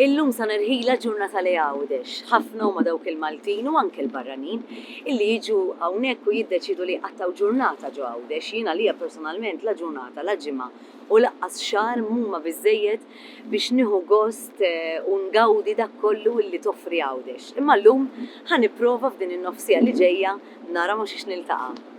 Illum sa nirħila ġurnata li għawdex. Ħafna huma dawk il-Maltin u anke l-barranin illi jiġu hawnhekk u jiddeċidu li jqattaw ġurnata ġo għawdex. Jiena lija personalment la ġurnata, la ġimgħa u laqqas xahar mhuma biżejjed biex nieħu gost u ngawdi dak kollu li toffri Għawdex. Imma llum ħa nipprova f'din in-nofsiegħa li ġejja nara ma' xiex niltaqa'.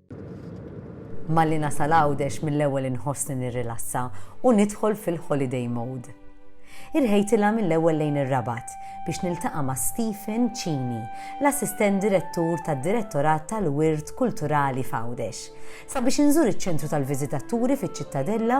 Malli nasal Għawdex mill-ewwel inħossni nirrilassa u nidħol fil-holiday mode. Irħejtilha mill-ewwel lejn ir-Rabat biex niltaqa' ma' Stephen Cini, l-Assistent Direttur tad-Direttorat tal-Wirt Kulturali f'Għawdex, sabiex inżur iċ-Ċentru tal-Viżitaturi fiċ-Ċittadella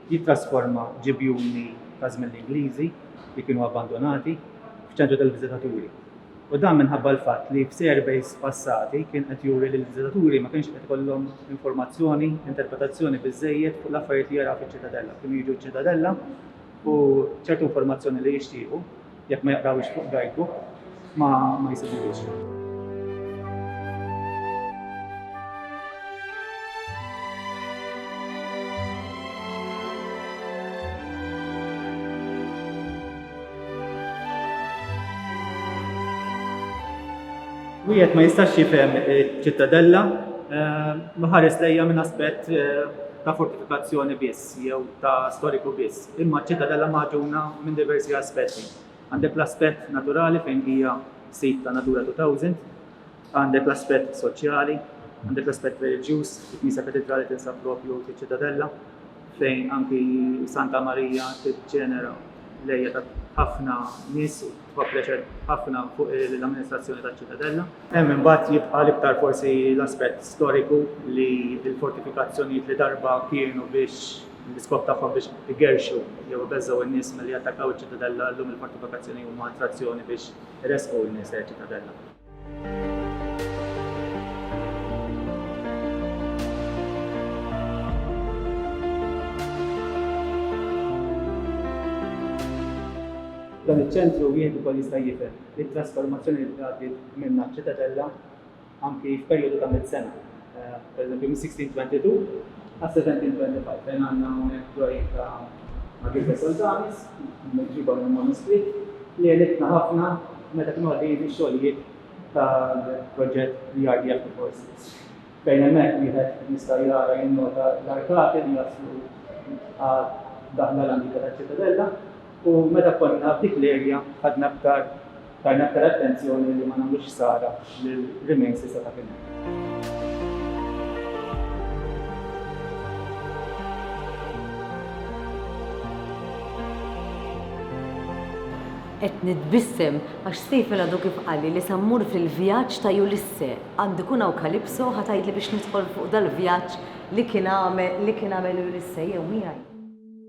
jittrasforma ġibjuni ta' żmien l-Ingliżi li kienu abbandunati f'ċentru tal-viżitaturi, u dan minħabba l-fatt li f'surveys passati kien qed juri li l-viżitaturi ma kienx qed ikollhom informazzjoni, interpretazzjoni biżżejjed fuq l-affarijiet li jaraw fiċ-Ċitadella. Kienu jiġu ċ-Ċitadella u ċertu informazzjoni li jixtiequ Jekk ma jaqrawhiex fuq guidebook ma jsibuhiex. Wieħed ma jistax jifhem ċittadella eh, ma ħares lejja minn aspett eh, ta' fortifikazzjoni biss. jew ta' storiku biss, imma ċ-Ċitadella magħġuna minn diversi aspetti. Għandek l-aspett naturali fejn hija sit ta' Natura 2000, għandek l-aspett soċjali, għandek l-aspett reliġjuż, il-Knisja Katidrali tinsab proprju fiċ-Ċitadella fejn anki Santa Marija tiġġenera l-għejja ta' ħafna nies, Huwa pressure ħafna fuq l-amministrazzjoni taċ-Ċitadella. Hemm imbagħad jibqa' l-iktar forsi l-aspett storiku li l-fortifikazzjonijiet li darba kienu biex l-iskop tagħhom biex igerrxu jew ibeżżgħu n-nies milli jattakkaw iċ-Ċitadella llum il-fortifikazzjoni huma attrazzjoni biex iressqu n-nies lejn iċ-Ċitadella. Dan iċ-ċentru wieħed ukoll jista' jifhem it-trasformazzjoni li għaddiet minnha ċ-Ċitadella anki f'perjodu ta' mitt sena. Pereżempju, mis-1622 għas-1725 fejn għandna hawnhekk dwajjien ta' Margherita Soldanis, miġjuba mill-manuskritt, li għenitna ħafna meta kienu għaddejjin ix-xogħlijiet tal-proġett The Art Beyond the Forces, fejn hemmhekk wieħed jista' jara, jinnota l-arkati li jaslu għad-daħla l-antika taċ-Ċitadella u meta konna f'dik l-area ħadna aktar Tajna aktar attenzjoni li ma nagħmlux ħsara lil remains li seta' kien hemm. Qed nitbissem għax Stephen għadu kif qalli li sa mmur fil-vjaġġ ta' Ulisse. Għandu jkun hawn Calypso ħa tgħidli biex nidħol fuq dal-vjaġġ li kien għamel Ulisse jew miegħi.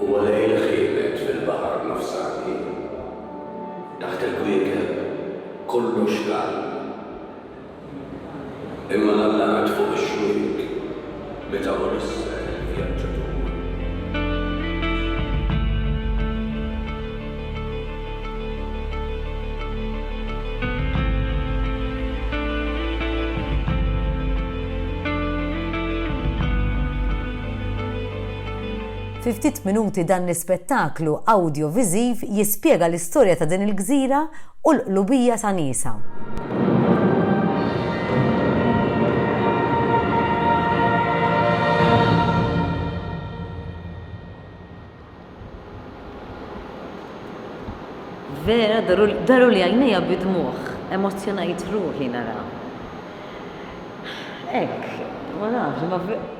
Huwa lejl ħielet fil-Baħar Nofsani. Taħt il-kwiekeb kollox dal. Imma l-allat fuq ix-xwiek meta hu l-issel vjaġġatur. Fi ftit minuti dan l-ispettaklu awdjoviżiv jispjega l-istorja ta' din il-gżira u l-qlubija ta' niesha. Vera, daruli għajnejja bid-dmugħ, emozzjonajt ruħi nara. Hekk, ma nafx, ma vera,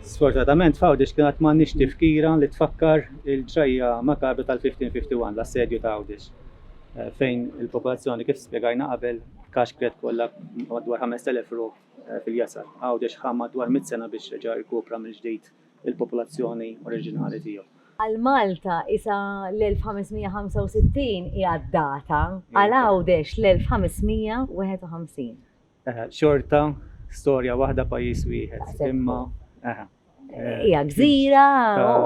Sfortunatament f'Għawdex kien għad m'għandniex tifkira li tfakkar il-ġrajja makabra tal-1551, l-Assedju ta' Għawdex, fejn il-popolazzjoni, kif spjegajna qabel, kaxkret kollha b'madwar 5,000 ruħ fil-jasar. Għawdex ħa madwar mitt sena biex reġa' rkupra mill-ġdid il-popolazzjoni oriġinali tiegħu. Għal Malta isa l-1565 hija d-data, għal Għawdex l-1551. Eħe, xorta storja waħda pajjiż wieħed. Imma eħe. Hija gżira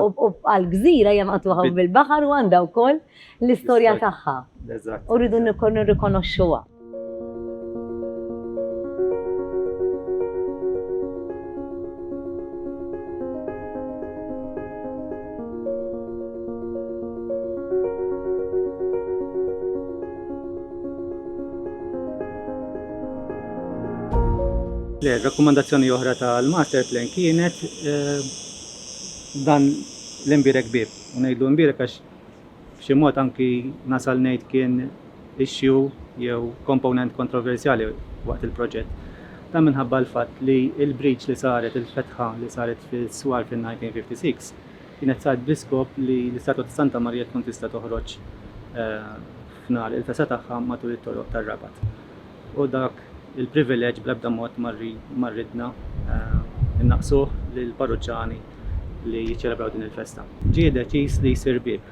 u għal gżira hija maqtuħa bil-baħar u għandha wkoll l-istorja tagħha. U rridu nirrikonoxxuha. Rakkomandazzjoni oħra tal-master plan kienet eh, dan l-imbirek bib. U ngħidlu imbirek għax f'xi mod anki nasal ngħid kien issue jew komponent kontroversjali waqt il-proġett. Dan minħabba l-fatt li l-breach li saret, il-fetħa li saret fis-swar fin-1956, kienet saret bl-iskop li l-istatwa ta' Santa Marija tkun tista' toħroġ eh, f'nar il-fesa tagħha matul it-toroq tar-Rabat. U dak il-privileġġ bl-ebda mod ma ridna nnaqqsuh lill-parruċċani li jiċċelebraw din il-festa. Ġie deċiż li jsir bieb.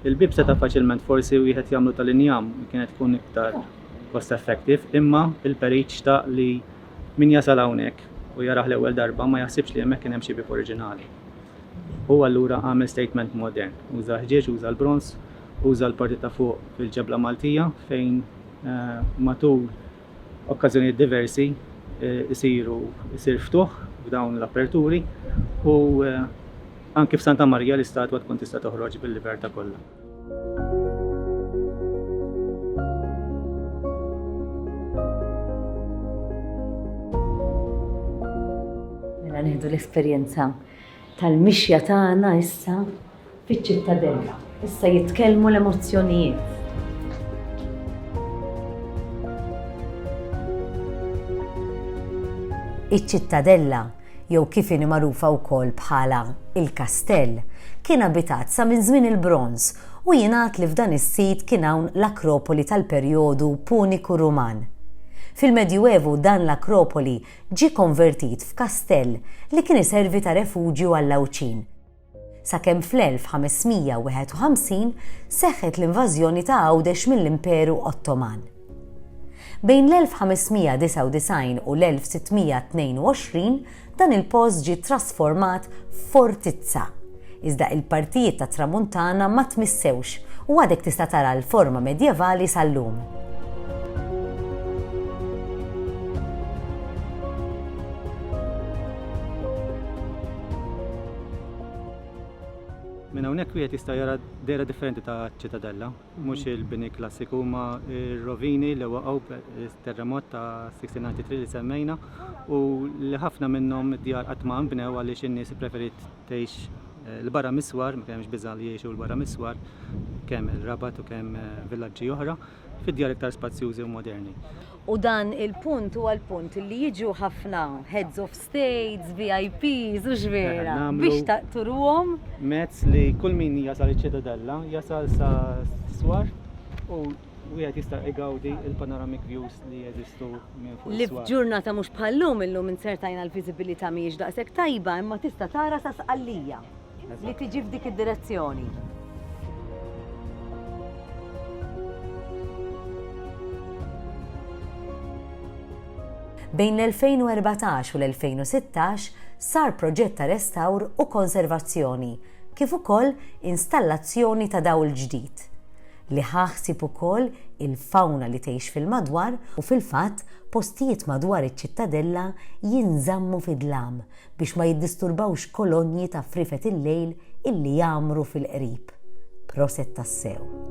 Il-bieb seta' faċilment forsi wieħed jagħmlu tal-injam, kienet tkun iktar cost effective, imma il-Perit xtaq li min jasal hawnhekk u jarah l-ewwel darba ma jaħsibx li hemmhekk kien hemm xi bieb oriġinali. Hu allura għamel statement modern, uża l-ħġieġ, uża l-bronż, Uża l-parti ta' fuq fil-ġebla Maltija fejn matul okkażjonijiet diversi jsiru jsir ftuħ f'dawn l-aperturi u anki f'Santa Marija l-istatwa tkun tista' toħroġ bil-libertà kollha. Mela nieħdu l-esperjenza tal-mixja tagħna issa Fiċ-Ċittadella issa jitkellmu l-emozzjonijiet. Iċ-Ċittadella, jew kif inhi magħrufa wkoll bħala il-Kastell, kien abitat sa minn żmien il-Bronż u jingħad li f'dan is-sit kien hawn l-Akropoli tal-perjodu Puniku Ruman. Fil-Medjuevu dan l-Akropoli ġie konvertit f'kastell li kien iservi ta' refuġju għall-Għawdxin. sakemm fl-1551 seħħet l-invażjoni ta' Għawdex mill-Imperu Ottoman. Bejn l-1599 u l-1622 dan il-post ġie ttrasformat f'fortizza, iżda il-partijiet tat-Tramuntana ma tmissewx u għadek tista' tara l-forma medjevali sal-lum. Minn hawnhekk wieħed jista' jara dejra differenti ta' ċitadella, mhux il-bini klassiku ma r-rovini li waqgħu terremot ta' 1693 li semmejna u li ħafna minnhom id-djar qatt ma nbnew għaliex in-nies ippreferiet tgħix eh, l-barra miswar, ma kienx biża' li jgħixu l-barra miswar kemm il-Rabat u kemm eh, villaġġi oħra. fid-djar iktar spazjużi u moderni. U dan il-punt huwa l-punt li jiġu ħafna heads of states, VIPs u x'vera biex taqturuhom. Mezz li kull min jasal iċ-Ċitadella jasal sa swar u wieħed jista' igawdi il-panoramic views li jeżistu minn fuq. Li f'ġurnata mhux bħal-lum illum inzertajna l-viżibilità mhijiex daqshekk tajba imma tista' tara sa Sqallija. li tiġi f'dik id-direzzjoni. Bejn l-2014 u l-2016 sar proġett ta' restawr u konservazzjoni kif ukoll installazzjoni ta' dawl ġdid, li ħa ħsieb ukoll il-fawna li tgħix fil-madwar u fil-fatt postijiet madwar iċ-Ċittadella jinżammu fi dlam biex ma jiddisturbawx kolonji ta' friefet il-lejl illi jgħammru fil-qrib. Proset tassew.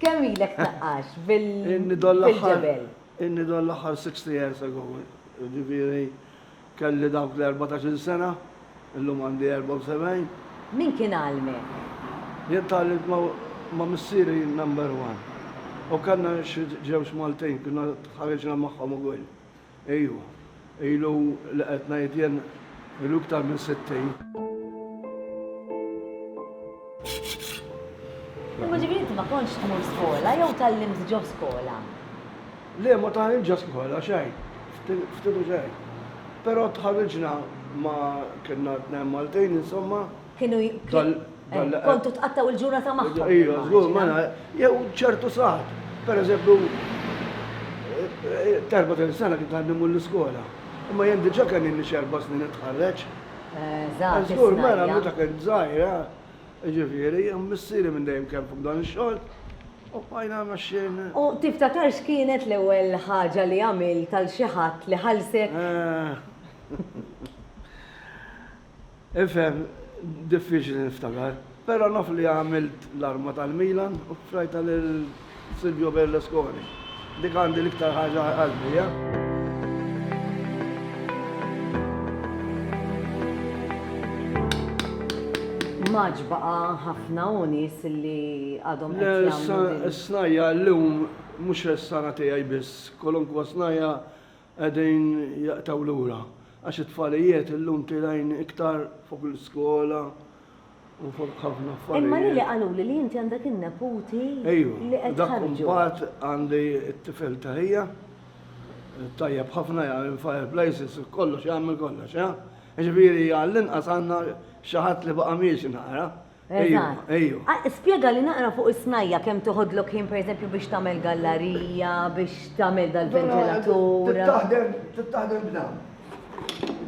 Kemm ilek taqqax bil-ġebel? Inni doll aħħar 60 years ago, ġifiri kelli dawk l-14 sena, illum għandi 74. Min kien għalmek? Jien tgħallimt ma' missieri number one. U kellna xi ġewġ Maltin, konna tħarriġna magħhom ukoll. Ejju, ilu li qed ngħid jien, ilu iktar minn sittin. Imma ġifieri inti ma kontx tmur skola jew tgħallimt ġo skola? Le, ma tgħallimt ġo skola xejn, ftit u xejn. Però tħarriġna ma' kellna tnejn Maltin insomma. Kienu kontu tqattaw il-ġurnata magħhom. Ejja, żgur, ma jew ċertu saħat. Per eżempju, terba tal sena kien għandi mur l-iskola. Imma jien diġà kien inni xerba snin itħarreġ. Żgur, mela meta kien żgħira, ġifieri, missieri minn dejjem kemm fuq dan ix-xogħol. U bqajna mexxin. U tiftakar x'kienet l-ewwel ħaġa li għamilt għal xi ħadd li ħallsek? Ifhem, diffiċli niftakar, però naf li għamilt l-arma tal-Milan u ffrajtha lil Silvio Berlusconi. Dik għandi l-iktar ħaġa għal qalbi, jah. Maġ baqa' ħafna u nies li għadhom qed jagħmlu. Le, s-snajja llum mhux s-sara tiegħi biss, kwalunkwe snajja qegħdin jaqtgħu lura għax it-tfalijiet illum tilgħin iktar fuq l-iskola u fuq ħafna affarijiet. Imma lili qaluli li inti għandek in-neputi li qed tħarrġu. Ejju, dak mbagħad għandi t-tifel ta' ħija, tajjeb ħafna jagħmel il-fireplaces u kollox jagħmel kollox, ha? Jiġifieri għall-inqas għandna xi ħadd li baqa' miexi naqra. Eżatt. Spjegali naqra fuq is-snajja' kemm toħodlok ħin pereżempju biex tagħmel gallarija, biex tagħmel dal-ventilatur. Trid taħdem, trid taħdem b'dan.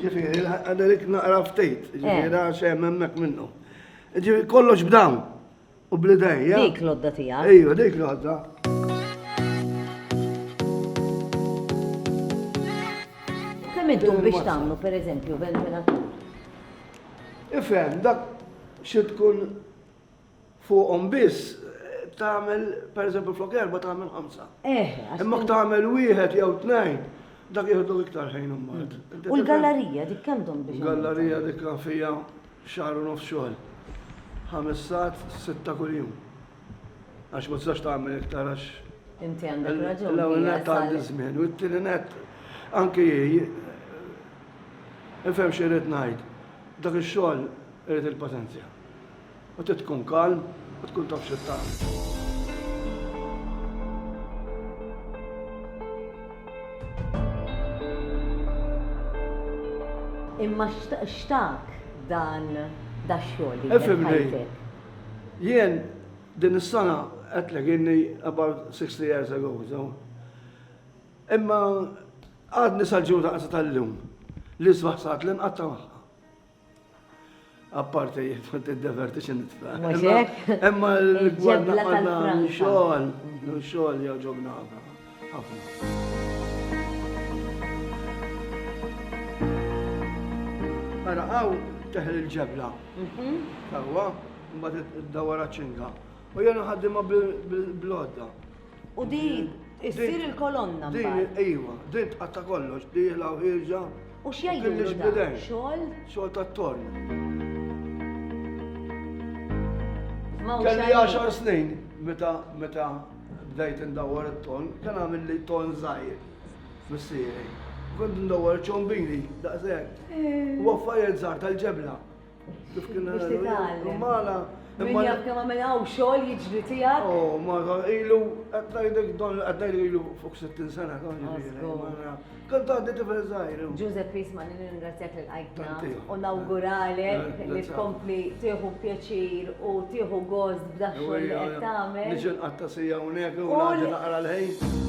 Ġifieri, għadalik naqra ftit, ġifieri għax hemm hemmhekk minnu. Ġifieri kollox b'dawn u bl-idej. Dik l-odda tiegħek. Ejju, dik l-odda. Kemm iddum biex tagħmlu pereżempju ventilatur? Ifhem dak xi tkun fuqhom biss tagħmel pereżempju flok erba' tagħmel ħamsa. Eh, għax Imma tagħmel wieħed jew tnejn dak jieħdu iktar ħin imbagħad. Mm. U l-gallerija dik kemm dom biex. Gallerija dik fija xahar u nofs xogħol. Ħames sat, sitta kuljum. Għax ma tistax tagħmel iktar għax. Inti għandek raġun. L-ewwel nett għandi żmien u t-tieni nett anki Ifhem xi rrid ngħid. Dak ix-xogħol irid il-paċenzja. U trid tkun kalm u tkun taf xi tagħmel. Imma x'tak dan dax-xogħol li Ifhimni. Jien din is-sena għedtlek inni about 60 years ago, so. Imma għadni sal-ġuda qasa tal-lum li sbaħ saħt li nqatta maħħa. Apparti jitfan t-diverti xin nitfan. Imma l-gwadna għadna xogħol, xogħol jgħu ġobna għadna. Ara hawn teħel il-ġebla. Ewwa, mhm. mbagħad iddawwar ċinga. U jena ħaddimha bil-blodda. U din issir il-kolonna. Din iva, din tqatta' kollox, dieħla u ħirġa. U x'jgħidu dan? Xogħol? Xogħol tat-torn. Kelli 10 snin meta meta bdejt indawwar it-ton, kien għamilli ton żgħir missieri. Kont indawwar ċombini daqshekk. U affarijiet żgħar tal-ġebla. Kif kien nagħmel? Mala. Imma jaf kemm għamel hawn xogħol jiġri tiegħek. Oh, ma ilu qed ngħidlek don qed ngħidlek ilu fuq 60 sena don jiġri. Kont għandi tifel zaħir. Giuseppe Isma li ningrazzjak li l-għajtna u nawguralek li tkompli tieħu pjaċir u tieħu gost b'daħxol li qed tagħmel. Nixin qatta sija unek u għandi naqra l-ħin.